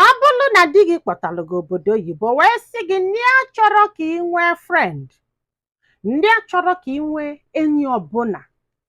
ọ bụlụ na di gị kpọtalụ gị obodo oyibo wee sị gị na ya achọrọ ka ị nwee friend na ya achọrọ ka ị nwee enyi ọbụla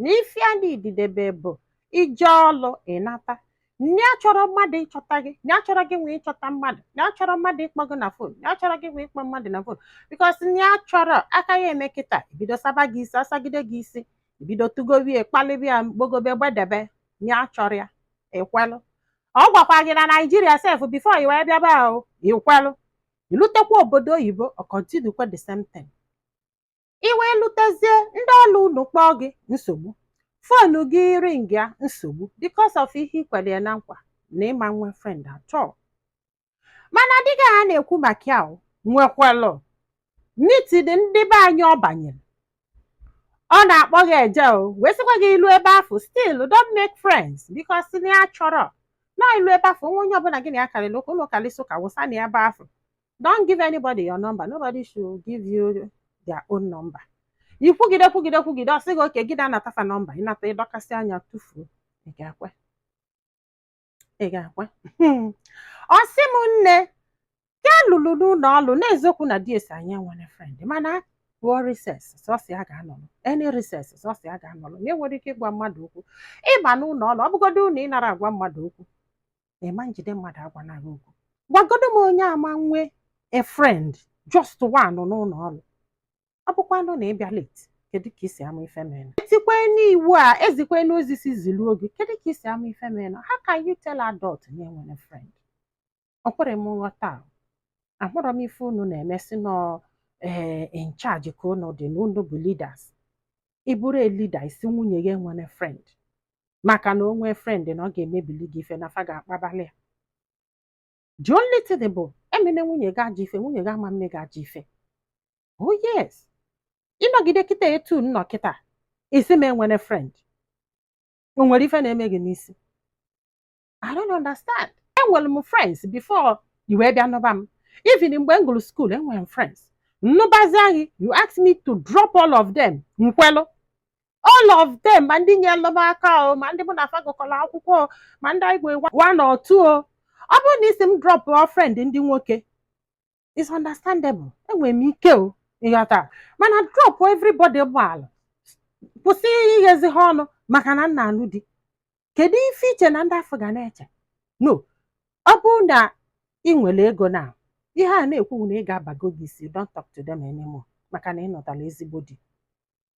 na ife ya na-edidebe bụ i je ọlụ ị nata na ya achọrọ mmadụ ịchọta gị na ya achọrọ gị nwa ịchọta mmadụ na ya achọrọ mmadụ ịkpọ gị na phone na ya achọrọ gị nwa ịkpọ mmadụ na phone because na ya achọrọ a ka ya-eme kịta e bido saba gị isi a sagide gị isi i bido tụgowie kpalibe ya gbogobe gbadebe na ya achọrọ ya i kwelụ ọ gwakwa gị na naijiria sef before i wee bịa ebe ahụ i kwelụ i lutekwa obodo oyibo ọ kọntinukwa the same thing i wee lutezie ndị ọrụ unu kpọọ gị nsogbu fonu gị ring ya nsogbu because of ihe i kwere ya na nkwa na ị ma nwe friend at all mana dịka ha na-ekwu maka ya, o nwekwalụ meeting ndị be anyị ọ banyere ọ na-akpọ gị eje o wee sịkwa gị i lu ebe afụ still don't make friends because na ya achọrọ na i lu ebe afụ nwa onye ọbụla gị na ya karịrị ụka unu karịsịa ụka wụsa na ebe afụ don't give anybody your number nobody should give you their own number i kwugide kwugide kwugide ọ sị gị okay gị na-anata fa nọmba ị nata ị dọkasịa ya tufuo ị ga-ekwe ị ga-ekwe ọ sị m nne ka ya luru n'ụlọ ọlụ na eziokwu na di ya sị ya enwene frend mana a pụọ recess sọsọ ya ga-anọrọ any recess sọsọ ya ga-anọrọ na enwerọ ike ịgwa mmadụ okwu ị ba n'ụlọ ọlụ ọ bụgodunụ ị narọ agwa mmadụ okwu ị ma njide mmadụ agwana gị okwu gwagodu m onye ama nwe a friend just one n'ụlọ ọlụ ọ bụkwanụ na ị bịa late kedu ka i si ama ife mere e tikwanụ iwu a e zikwanụ ozi sị ziluo gị kedu ka i si ama ife merenụ how can you tell adult na ya enwene friend o kwerọ m nghọta ahụrọ m ife unu na-eme si nọ ee in charge ka unu dị na unu bụ leaders ị bụrụ a leader ị sị nwunye gị enwene friend maka na o nwee friend na ọ ga-emebili gị ife na fa ga-akpabali ya the only thing bụ emene nwunye gị ajọ ife nwunye gị ama mme gị ajọ ife oh yes ị nọgide kịta etu m nọ kịta ị sị m enwene friend o nwere ife na-eme gị n'isi I don't understand enwere m friends before i wee bịa nụba m even mgbe m gụrụ school enwere m friends m nụbazia gị you ask me to drop all of them m kwelụ all of them ma ndị nyelụ m aka o ma ndị mụ na fa gụkọrọ akwụkwọ o ma ndị anyị gwere one or two o ọ bụrụ na ị sị m drop friend ndị nwoke it's understandable enwere m ike o ịghọta mana drop everybody gbaalụ kwụsị ighezi ha ọnụ maka na m na-anụ di kedu ife i che na ndị afụ ga na-eche no ọ bụrụ na ị nwere ego na ihe a na-ekwu na ego abago gị isi don't talk to them anymore maka na ị nụtara ezigbo di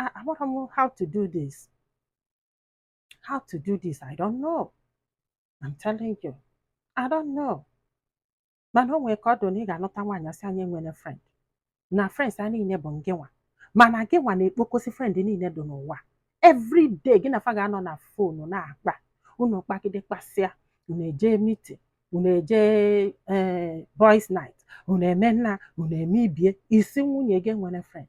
ah, amarọ m how to do this how to do this I don't know I'm telling you I don't know mana o nwere ka ọ dị na ị ga-anụta nwaanyị asị a nya enwene friend na friends a niile bụ ngịnwa mana gịnwa na-ekpokosi friend niile dị n'ụwa every day gị na fa ga-anọ na fonu na-akpa unu kpagide kpasịa unu eje mitin unu eje eh, boys night unu eme nna unu eme ibie ị sị nwunye gị enwene friend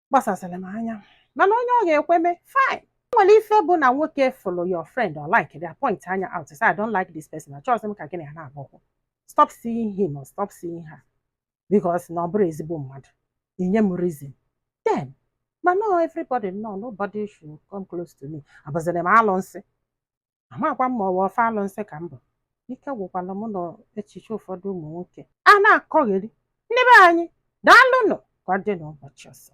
gbasasịrị m anya mana onye ọ ga-ekwe mee fine nwere ife bụ na nwoke fụlụ your friend ọ likeghị ya pointa nya out sị I don't like this person achọghịzị m ka gị na ya na-agba ụkwụ stop seeing him or stop seeing her because na ọ bụrọ ezigbo mmadụ i nye m reason then mana everybody no nobody should come close to me abụzịrị m alụnsị amakwa m ma ọ bụ ofu alụnsị ka m bụ ike gwụkwala m n'echiche ụfọdụ ụmụ nwoke a na-akọgheri ndị be anyị daalụnụ ka ọ dị n'ụbọchị ọzọ